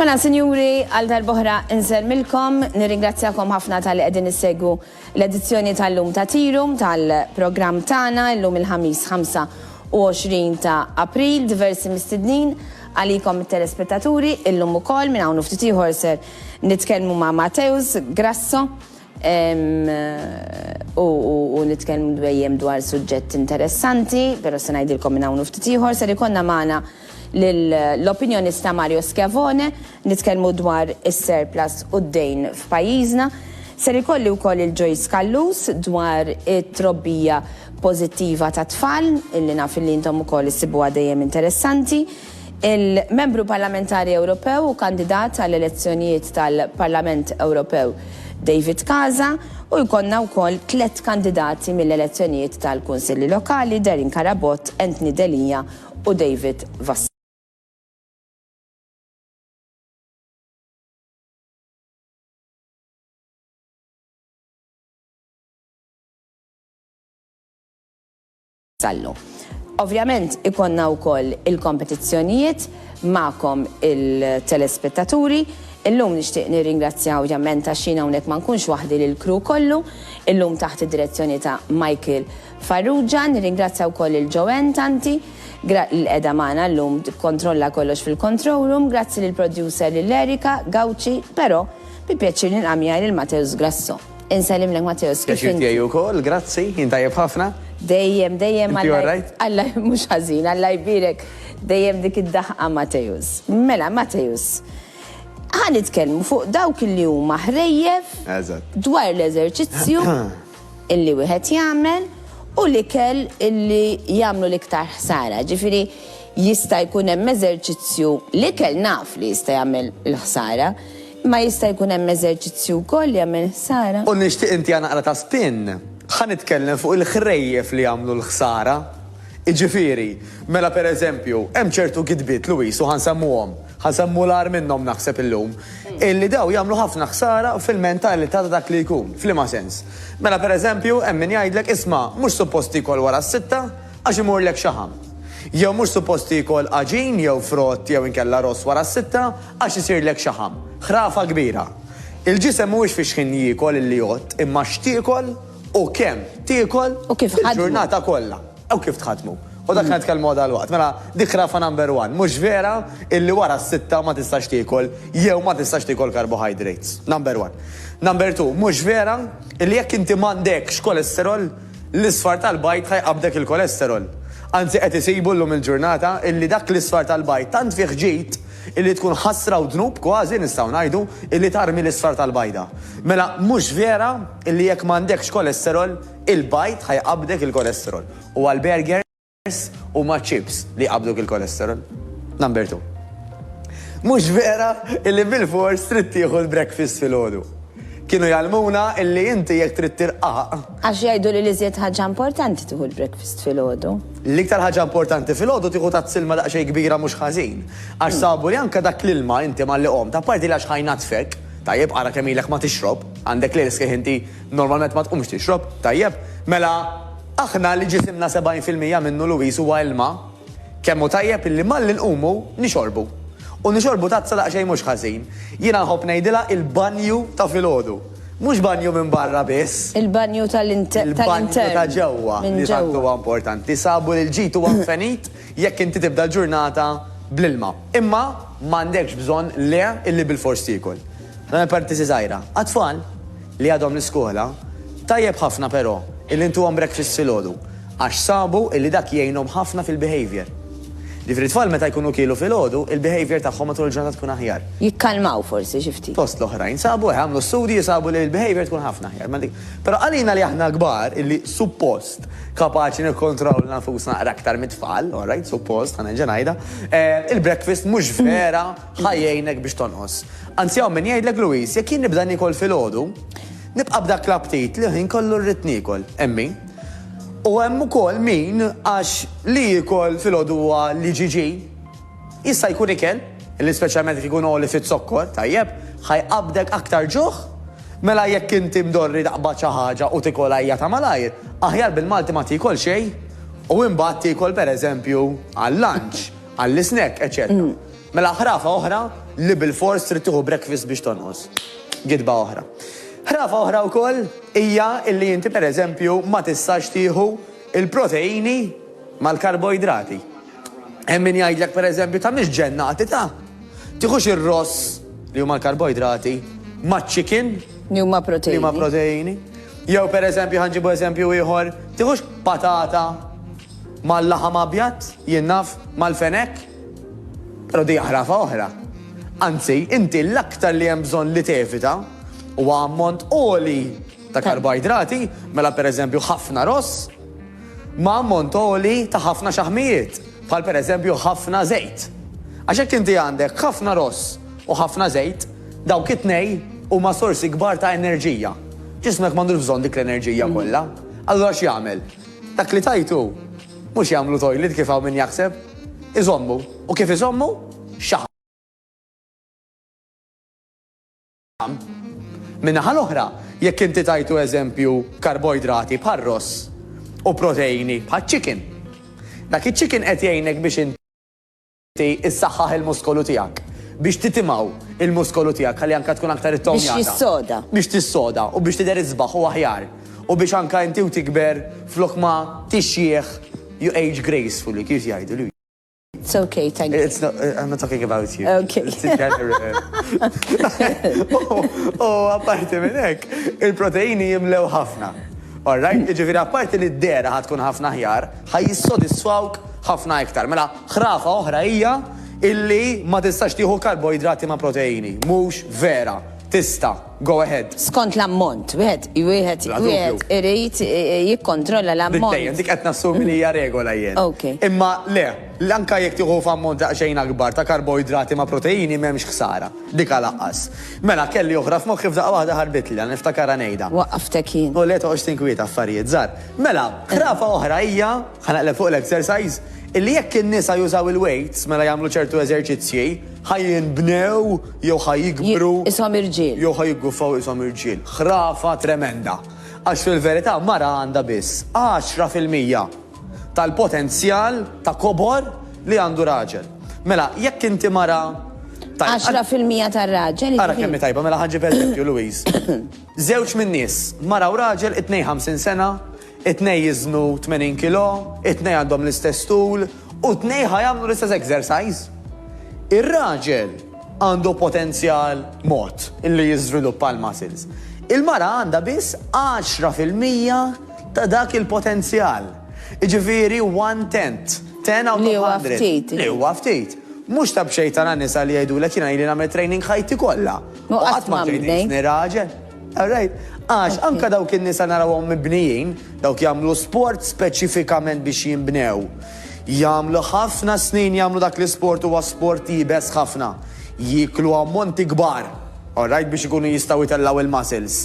Mela, sinjuri, għal darbohra nżermilkom, nirringrazzjakom ħafna tal-li qegħdin issegwu l-edizzjoni tal-lum ta' tirum tal-programm tagħna llum il-ħamis 25 ta' April, diversi mistednin għalikom it-telespettaturi illum ukoll minn hawn ftit ieħor ser nitkellmu ma' Mateus Grasso U nitkellmu dwejjem dwar suġġett interessanti, però se ngħidilkom minn hawn u ftit ieħor, ser ikollna magħna lill-opinjonista Mario Schiavone, nitkellmu dwar is-surplus u d-dejn f'pajjiżna. Ser ikolli wkoll lil Joyce Callus dwar it-trobbija pożittiva tat-tfal, illi naf illi intom ukoll issibuha dejjem interessanti. Il-Membru Parlamentari Ewropew u kandidat għall-elezzjonijiet tal-Parlament Ewropew David Casa u jkollna wkoll tliet kandidati mill-elezzjonijiet tal-Kunsilli Lokali, Darren Carabott, Anthony Delia u David Vassella. Sallu. Ovvjament ikollna wkoll il-kompetizzjonijiet magħkom il-telespettaturi. Illum nixtieq nirringrazzja ovvjament għax jien hawnhekk ma nkunx waħdi lill-crew kollu, illum taħt id-direzzjoni ta' Michael Farrugia. Nirringrazzja wkoll lil Joanne Tanti gra li qiegħda magħna llum tikkontrolla kollox fil-control room. Grazzi lill-producer lil Erica Gauci, però bi pjaċir nilqa' miegħi lil Mateus Grasso. Insellimlek Matteus, kif inti? Pjaċir tiegħi wkoll, grazzi, jien tajjeb ħafna. Dejjem, dejjem Inti all right? Alla mhux ħażin, Alla jbierek dejjem dik id-daħqa Matteus. Mela Matteus, ħa nitkellmu fuq dawk li huma ħrejjef Eżatt. dwar l-eżerċizzju illi wieħed jagħmel u l-ikel illi jagħmlu l-iktar ħsara. Ġifieri jista' jkun hemm eżerċizzju l-ikel naf li jista' jagħmel il-ħsara, Ma jista' jkun hemm eżerċizzju wkoll li jagħmel ħsara? U nixtieq intiha naqra ta' spin. Ħa nitkellem fuq il-ħrejjef li jagħmlu l-ħsara. Jiġifieri, mela per eżempju, hemm ċertu gidbiet, Louis, u ħa nsemmuhom, ħa nsemmu l-agħar minnhom naħseb illum, illi dawn jagħmlu ħafna ħsara fil-mentalità ta' dak li jkun. F'liema sens? Mela per eżempju, hemm min jgħidlek, isma', mhux suppost tiekol wara s-sitta, Għax imurlek xaħam. Jew mhux suppost tiekol għaġin jew frott jew inkella ross wara s-sitta għax isirlek xaħam. Ħrafa kbira. Il-ġisem mhuwiex fi xħin jiekol illi jgħodd imma x'tiekol u kemm tiekol fil-ġurnata kollha. U kif tħaddmu. U dak li nitkellmu għal dalwaqt. Mela dik ħrafa number one. Mhux vera illi wara s-sitta ma tistax tiekol jew ma tistax tiekol carbohydrates. Number one. Number two, mhux vera illi jekk inti m'għandekx cholesterol, L-isfar tal-bajd ħa jqabbdek il-kolesterol. Anzi qed isibu llum il-ġurnata illi dak l-isfar tal-bajd tant fih ġid illi tkun ħasra u dnub kważi nistgħu ngħidu illi tarmi l-isfar tal-bajda. Mela mhux vera illi jekk m'għandekx kolesterol il-bajd ħa jqabbdek il-kolesterol u għall-burger? Res huma chips li jqabbduk il-kolesterol. Number two. Mhux vera illi bilfors trid tieħu l-breakfast filgħodu. Kienu jgħallmuna illi inti jekk trid tirqaq. Għax jgħidu li l-iżjed ħaġa importanti tieħu l-breakfast filgħodu. L-iktar ħaġa importanti filgħodu tieħu tazz ilma daqsxejn kbira mhux ħażin. Għax sabu li anke dak l-ilma inti malli qomt, apparti li għax ħa jnaddfek, tajjeb ara kemm ilek ma tixrob, għandek l-irsħiħ inti normalment ma tqumx tixrob, tajjeb, mela, Aħna li ġisimna 70 fil-mija minnu Louise huwa ilma, kemm hu tajjeb illi malli nqumu nixorbu. U nixorbu tazza daqsxejn mhux ħażin. Jiena nħobb ngħidilha il-banju ta' filgħodu. Mhux banju minn barra biss. Il-banju tal-intern. Il-banju ta' ġewwa li tant huwa importanti. Sabu li l-ġid huwa nfenit. jekk inti tibda l-ġurnata bl-ilma. Imma ma għandekx bżonn le illi bilfors tiekol. Nagħmel parentesi żgħira. Għat-tfal li għadhom l-iskola, tajjeb ħafna però illi ntuhom breakfast filgħodu għax sabu illi dak jgħinhom ħafna fil-behaviour. Ġifieri t-tfal meta jkunu kielu filgħodu, il-behaviour tagħhom matul il-ġurnata tkun aħjar. Jikkalmaw forsi xi ftit. Fost l-oħrajn sabu, għamlu studji sabu li l-behaviour tkun ħafna aħjar. Però għalina li aħna kbar illi suppost. kapaċi nikkontrollna nfusna naqra aktar mit-tfal, all right, suppost, għana ġenajda, eh, il-breakfast mhux vera ħajjejnek biex tonqos. Anzi hawn min jgħidlek Luis, jekk jien nibda nikol fil-ħodu, nibqa' b'dak l-aptit li ħin kollu rrid nikol, emmi. U hemm ukoll min għax li jikol fil-ħodu huwa li ġiġi Jista' jkun ikel, li speċjalment jekk ikun għoli fiz-zokkor, tajjeb, ħa jqabbdek aktar ġuħ. Mela jekk inti mdorri taqbad xi ħaġa u tikolha hija ta' malajr, aħjar bil-Malti ma tiekol xejn u imbagħad tiekol pereżempju għal-lunch, għall-isnack, eċċetera. Mela ħrafa oħra li bilfors trid tieħu breakfast biex tonqos. Gidba oħra. Ħrafa oħra wkoll hija li inti pereżempju ma tistax tieħu l-proteini mal-karboidrati. Hemm min jgħidlek pereżempju tagħmilx ġennati ta'. Tieħux ir-ross li huma l-karboidrati maċ-chicken. Li huma proteini. Li huma proteini. Jew pereżempju ħanġibu eżempju ieħor, tieħux patata mal-laħam abjad, jien naf, mal-fenek. Però di ħrafa oħra. Anzi, inti l-aktar li hemm bżonn li tevita huwa ammont oli ta' karboidrati, mela pereżempju ħafna ross, ma' ammont għoli ta' ħafna xaħmijiet, bħal pereżempju ħafna żejt. Għax jekk inti għandek ħafna ross u ħafna żejt, dawk it-tnejn huma sorsi kbar ta' enerġija. Ġismek m'għandux bżonn dik l-enerġija kollha. Allura x'jagħmel? Dak li tajtu mhux jagħmlu toilet kif hawn min jaħseb. Iżommu. U kif iżommu? Xaħam. Min-naħa l-oħra, jekk inti tajtu eżempju karboidrati bħar-ross u proteini bħaċ-chicken, dak iċ-chicken qed jgħinek biex inti issaħħaħ il-muskolu tiegħek, biex titimgħu l-muskolu tiegħek ħalli anke tkun aktar ittonjata. Biex tissoda. Biex tissoda u biex tidher isbaħ u aħjar. U biex anke inti u tikber flok ma tixjieħ you age gracefully, kif jgħidu. It's okay, thank you. It's not, uh, I'm not talking about you. Okay. U apparti minn hekk, il-proteini jimlew ħafna. All right, ġifieri apparti li d-dera ħatkun ħafna ħjar, ħaj jissodisfawk ħafna iktar. Mela, ħrafa oħra hija illi ma tistax tieħu karboidrati ma' proteini. Mhux vera, tista'. Go ahead. Skont l-ammont, wieħed wieħed wieħed irid jikkontrolla l-ammont. Dejjem dik qed nassumi li hija regola jien. Imma le, anke jekk tieħu f'ammont daqsxejn akbar ta' karboidrati ma' proteini m'hemmx ħsara. Diqa laqqas. Mela kelli oħra f'moħħi f'daqqa waħda ħarbitlli, għala niftakarha ngħidha. Waqqaftek jien. U le toqgħodx tinkwieta affarijiet żgħar. Mela, ħrafa oħra hija, ħa naqleb fuq l-exercise, illi jekk in-nisa jużaw il-weights mela jagħmlu ċertu eżerċizzji, Ħa jinbnew jew ħa jikbru. Ishom irġiel. Jew ħa jigguffaw ishom irġiel. Ħrafa tremenda. Għax fil-verità mara għandha biss għaxra fil-mija tal-potenzjal ta' kobor li għandu raġel. Mela, jekk inti mara Għaxra fil-mija tar-raġel. Ara jiġifieri- kemm tajba, mela ħanġi per Louise. Żewġ minn nies, mara u raġel 52 sena, It-tnejn jiżnu 80 kilo, it-tnejn għandhom l-istess tul u t-tnejn ħa jagħmlu l-istess exercise. Ir-raġel għandu potenzjal mod li jiżviluppa l-muscles. Il-mara għandha biss 10 fil-mija ta' dak il-potenzjal. Jiġifieri one tenth, ten out of hundred. Li huwa ftit. Li huwa ftit. Mhux ta' b'xejn tara nisa li jgħidulek jiena ili nagħmel training ħajti kollha. U qatt ma tgħidilni raġel. All right? Għax anke dawk in-nisa narawhom mibnijin, dawk jagħmlu sport speċifikament biex jinbnew. Jagħmlu ħafna snin jagħmlu dak l-isport huwa sport iebes ħafna. Jieklu ammonti kbar, all right, biex ikunu jistgħu jtellgħu il-muscles.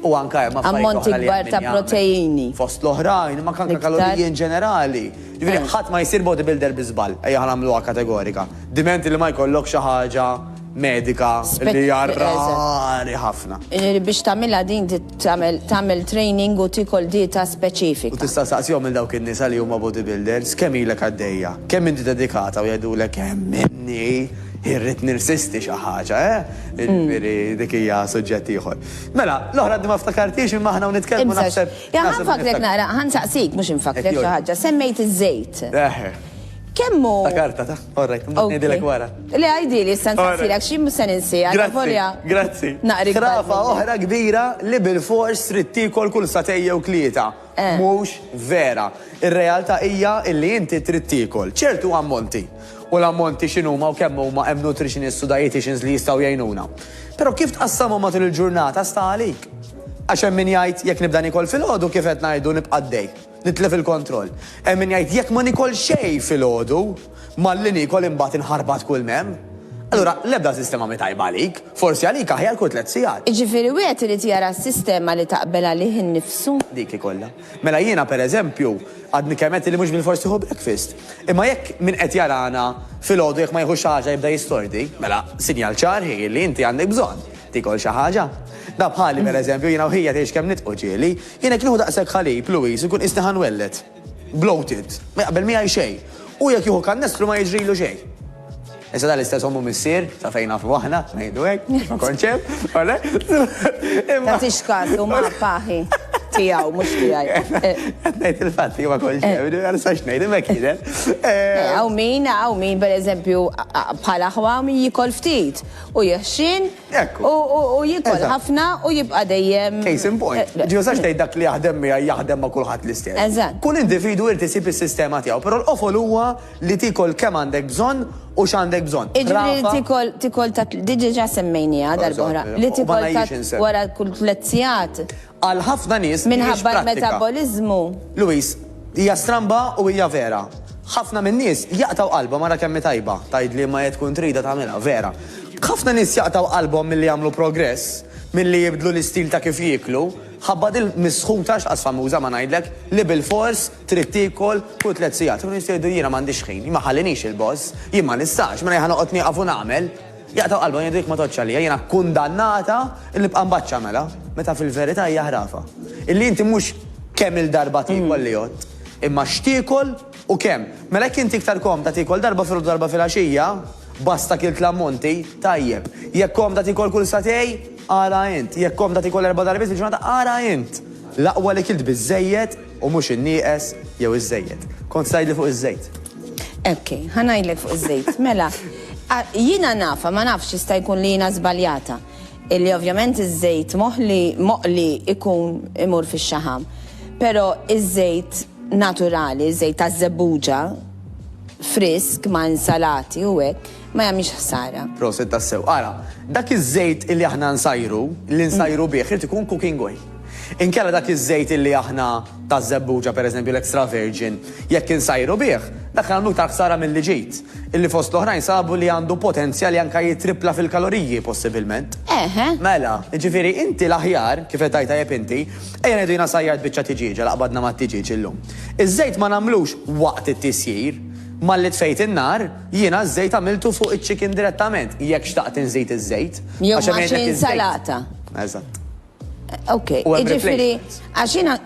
U anke hemm affarijiet oħra li Ammonti kbar hemm ta' min jagħmel. proteini. Fost l-oħrajn, ma kanka Iktar. kaloriji in ġenerali. Ġifieri ħadd ma jsir bodybuilder bi żball, ejja ħa nagħmluha kategorika. Diment li ma jkollok xi ħaġa medika li hija rari ħafna. Biex tagħmilha din tagħmel training u tiekol dieta speċifika. U tista' tistaqsihom lil dawk in-nisa li huma bodybuilders kemm ilek għaddejja, kemm inti dedikata u jgħidulek hemm inni irrid nirsisti xi ħaġa, eh? Jiġifieri dik hija suġġett ieħor. Mela, l-oħra għadni ma ftakartix imma aħna hawn nitkellmu naħseb. Ħa nfakkrek naqra, ħa nsaqsik mhux infakkrek xi ħaġa, semmejt iż-żejt. Kemm hu. All right, imbagħad ngħidilek wara. Le għidili issa nsaqsilek xi mhux se ninsiha. Grazzi, grazzi. Naqri. Ħrafa oħra kbira li bilfors trid tiekol kull satej jew tlieta. Eh. Mhux vera. Ir-realtà hija li inti trid tiekol ċertu ammonti. U l-ammonti x'inhuma u kemm huma hemm nutritionists u dietitians li jistgħu jgħinuna. Però kif tqassamhom matul il-ġurnata sta għalik. Għax hemm min jgħid jekk nibda nikol filgħodu kif qed ngħidu nibqa' dej. Nitlef il-kontroll. Hemm min jgħid jekk ma nikol xejn filgħodu, malli niekol imbagħad inħarbat kull m'hemm. Allura, l-ebda sistema mhi tajba għalik. Forsi għalik aħjar kull tliet sigħat. Jiġifieri wieħed irid jara s-sistema li taqbel għalih innifsu. Dik ikollha. Mela jiena pereżempju, għadni kemm għedt li mhux bilfors nieħu breakfast. Imma jekk min qed jarana filgħodu jekk ma jieħux xi ħaġa jibda jistordi, mela sinjal ċar hi li inti għandek bżonn tikol xi ħaġa. Da bħali pereżempju jiena u ħija tgħix kemm nitqu ġieli, Jien jekk nieħu daqshekk ħalib, Louise, inkun qisni ħa nwelled. Bloated. Ma jaqbel miegħi xejn. Hu jekk jieħu kannestru ma jiġrilu xejn. Issa dan l-istess omm u missier, sa fejn nafu aħna, ngħidu hekk, għax ma kontx hemm, ole? Imma. Tagħtix kas, huma paħi tiegħu mhux tiegħi. Qed ngħid il-fatt li ma kontx hemm, eh. għal sax ngħid imma kienet. Hawn eh, min, hawn min pereżempju bħal aħwa min jikol ftit u jeħxin Hekk hu. U u jiekol Eżatt. ħafna u jibqa' dejjem. Case in point. Eh, Ġi usax tgħid dak li jaħdem miegħi jaħdem ma' kulħadd l-istess. Eżatt. Kull individwu jrid isib is-sistema tiegħu, però l-qofol huwa li tiekol kemm għandek bżonn u x'għandek bżonn. Iġifieri Rafa, tikol tikol ta' di diġà semmejniha darb'oħra. Li U ma tikol ta' ngħidx insem. wara kull tliet sigħat. Għal ħafna nies mhijiex prattika. Minħabba l-metaboliżmu. Louise, Hija stramba u hija vera. Ħafna min-nies jaqtgħu qalbhom ara kemm hi tajba, tgħid li ma jekk tkun tridha tagħmilha, vera. Ħafna nies jaqtgħu qalbhom milli jagħmlu progress, milli jibdlu l-istil ta' kif jieklu, ħabba din misħuta x'qas famuża ma ngħidlek, li bilfors trid tiekol kull tliet sigħat. U nies jgħidu jiena m'għandix ħin, ma jħallinix il-boss, jien ma nistax, mela jien ħa noqgħod nieqaf u nagħmel. Jaqtgħu qalbhom, jgħidu jekk ma tgħoddx għalija, jiena kkundannata li nibqa' mbaċċa mela, meta fil-verità hija ħrafa. Illi inti mhux kemm-il darba tiekol li għodt, imma x'tiekol u kemm. Mela jekk inti iktar komda tiekol darba filgħodu u darba filgħaxija, basta kilt l-ammonti, tajjeb. Jekk komda tiekol kull sagħtej, ara int. Jekk komda tiekol erba' darbiet fil-ġurnata, ara int. L-aqwa li kilt biżżejjed U mhux in-nieqes jew iż-żejjed. Kont se tgħidli fuq iż-żejt. Ok, ħa ngħidlek fuq iż-żejt. Mela, jiena nafha, ma nafx jista' jkun li jiena żbaljata, li ovvjament iż-żejt moħli, moqli jkun imur fix-xaħam. Però iż-żejt naturali, iż-żejt taż-żebbuġa, frisk ma' insalati u hekk. ma jagħmilx ħsara. Proset tassew. Ara, dak iż-żejt illi aħna nsajru, li nsajru bih, irid ikun cooking oil. Inkella dak iż-żejt illi aħna ta' żebbuġa pereżempju l-extra virgin, jekk insajru bih, dak nagħmlu iktar ħsara milli ġid, illi fost l-oħrajn sabu li għandu potenzja li anke jittrippla fil-kaloriji possibilment. Eħe. Mela, jiġifieri inti l-aħjar, kif qed tgħid tajjeb inti, ejja ngħidu jiena sajjart biċċa tiġieġa li qbadna mat-tiġieġ illum. Iż-żejt ma nagħmlux waqt it-tisjir, malli tfejt in-nar, Jiena ż-żejt għamiltu fuq iċ-chicken direttament, jekk xtaqt inżid iż-żejt. Jew Għax hemm ma' xi jgħidlek iż-żejt. insalata. Eżatt. Ok, U hemm jiġifieri replacements. għax jiena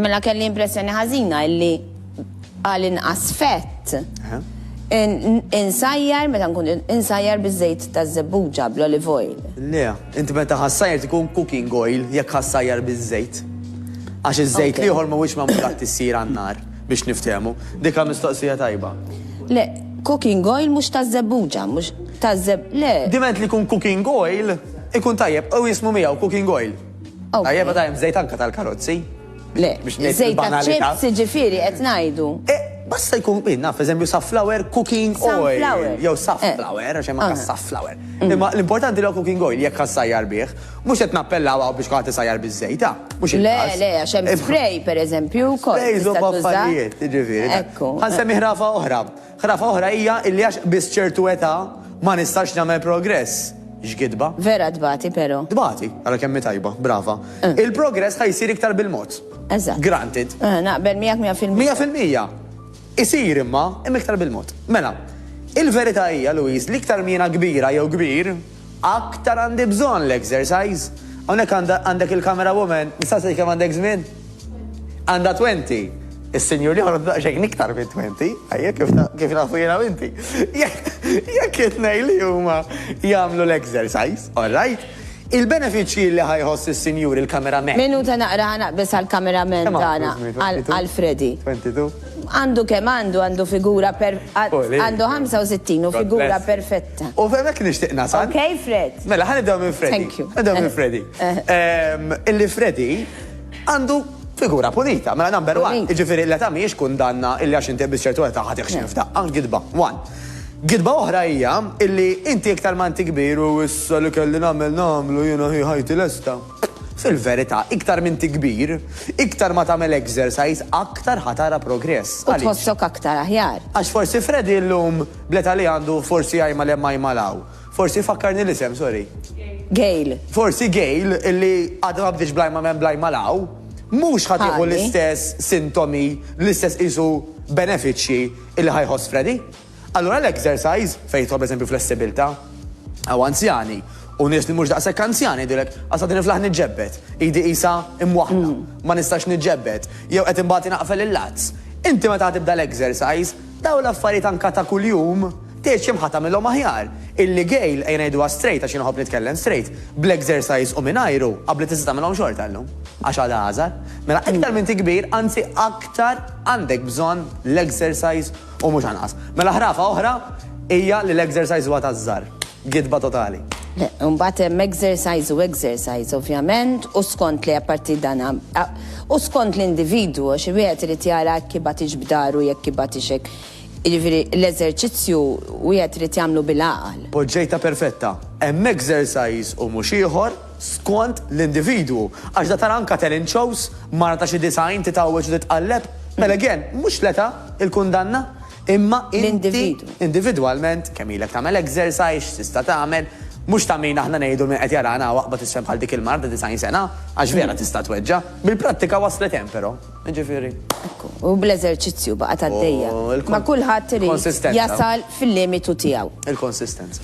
mela kelli impressjoni ħażina illi għal inqas fett Eħe. in- in- insajjar meta nkun insajjar biż-żejt taż-żebbuġa bl-olive oil. Le, inti meta ħassajr tkun cooking oil jekk ħassajjar biż-żejt. Għax iż-żejt Ok. l-ieħor mhuwiex magħmul għat-tissir għan-nar. Biex niftehmu. Dika mistoqsija tajba. Le, cooking oil mhux taż-żebbuġa, mhux taż-żeb, le. Diment li jkun cooking oil, ikun tajjeb, u jismu miegħu cooking oil. Tajjeb, għadha hemm żejt anke tal-karozzi. Le, żejt tal-ċips, jiġifieri qed ngħidu. Eh, basta jkun min, naf, eżempju, safflower cooking oil. Jew safflower, għax hemm anke safflower. Imma l-importanti li cooking oil jekk ħassajjar bih. Mhux qed nappellaw hawn biex kulħadd isajjar biż-żejt, ah, mhux il-każ. Le, le, għax hemm spray, pereżempju, wkoll. Sprays huma affarijiet, jiġifieri. Ekku. Ħa nsemmi ħrafa oħra. Ħrafa oħra hija illi għax qbiżt ċertu età ma nistax nagħmel progress. X'gidba. Vera tbati però. Tbati, ara kemm hi tajba, brava. Eh. Il-progress ħa jsir iktar bil-mod. Eżatt. Granted. Eh, naqbel miegħek 100%. 100%. Isir imma, imma iktar bil-mod. Mela, il-verità hija, Louise, li iktar miena kbira jew kbir, Aktar għandi bżonn l-exercise. Hawnhekk għandek il-camera woman, nistaqsik kemm għandek żmien? Għandha twenti. Is-sinjur l-ieħor għandu daqsxejn iktar minn twenti, ajja kif nafu jiena u inti. Jekk it-tnejn li huma jagħmlu l-exercise, alright? Il-benefiċċji li ħa jħoss is-sinjur il-camera man. Minuta naqra ħa naqbeż għall-camera man tagħna, għal Freddy. Għandu kemm għandu, għandu figura per, għandu 65 u figura perfetta. U f'hemmhekk nixtieq nasal. Ok, Fred. Mela, ħa nibdew minn Freddy. Thank you. Nibdew minn Freddy. Ehm, illi Freddy għandu figura pulita, mela number one, ġifiri l-età mhijiex kundanna illi għax inti biss ċertu età ħadd iħxin f'daqqa, gidba, one. Gidba oħra hija illi inti iktar ma inti kbir u issa li kelli nagħmel nagħmlu jiena hi ħajti lesta. Fil-verità, iktar minn ti kbir, iktar ma tagħmel exercise, aktar ħatara progress. U tħossok aktar aħjar. Għax forsi Freddy llum Bl-età li għandu forsi jgħajma 'l hemm jgħajma 'l hawn. Forsi jfakkarni l-isem, sorry. Gail. Forsi Gail, illi għadha ma bdietx bl-jgħajma 'l hemm bl-jgħajma 'l hawn, mhux ħa tieħu l-istess sintomi, l-istess qisu benefiċċji illi ħa jħoss Freddie. Allura l-exercise, fejn jidħol pereżempju flessibilità, hawn anzjani u nies li mhux daqshekk anzjani jgħidulek, Għas qed niflaħ niġġebbed, idi qisha imwaħħla, ma nistax niġġebbed, jew qed inbati naqfel il-lazz. Inti meta ħa tibda l-exercise, Dawn l-affarijiet anka ta' kuljum, tgħid xi mħa tagħmilhom aħjar. Illi Gail, ejja ngħiduha straight għax jien inħobb nitkellem straight, bl-exercise u mingħajru, qabbli tista' tagħmilhom xorta llum. Għax għadha għażar. Mela iktar m'inti kbir, anzi aktar għandek bżonn l-exercise u mhux anqas. Mela ħrafa oħra hija li l-exercise huwa taż-żgħar. Gidba totali. Imbagħad hemm exercise u exercise ovvjament u skont li apparti dan u skont l-individwu għax wieħed irid jara jekk ibgħatix b'daru jekk ibgħatix hekk. Jiġifieri l-eżerċizzju wieħed irid jagħmlu bil-għaqal. Poġġejtha perfetta. Hemm exercise u mhux ieħor skont l-individwu għax da tara anke talent shows, mara ta' xi 90 titgħawweġ u titqalleb. Mela again, mhux l-età il-kundanna. Imma inti individwalment kemm ilek tagħmel exercise, x'tista' tagħmel, mhux ta' min aħna ngħidu min qed jarana hawn aqbad isfel bħal dik il-mara ta' 90 sena, għax vera tista' tweġġa'. Bil-prattika waslet hemm però, jiġifieri. Ekku, u bl-eżerċizzju baqgħet għaddejja. Ma kulħadd irid jasal fil-limitu tiegħu. Il-konsistenza.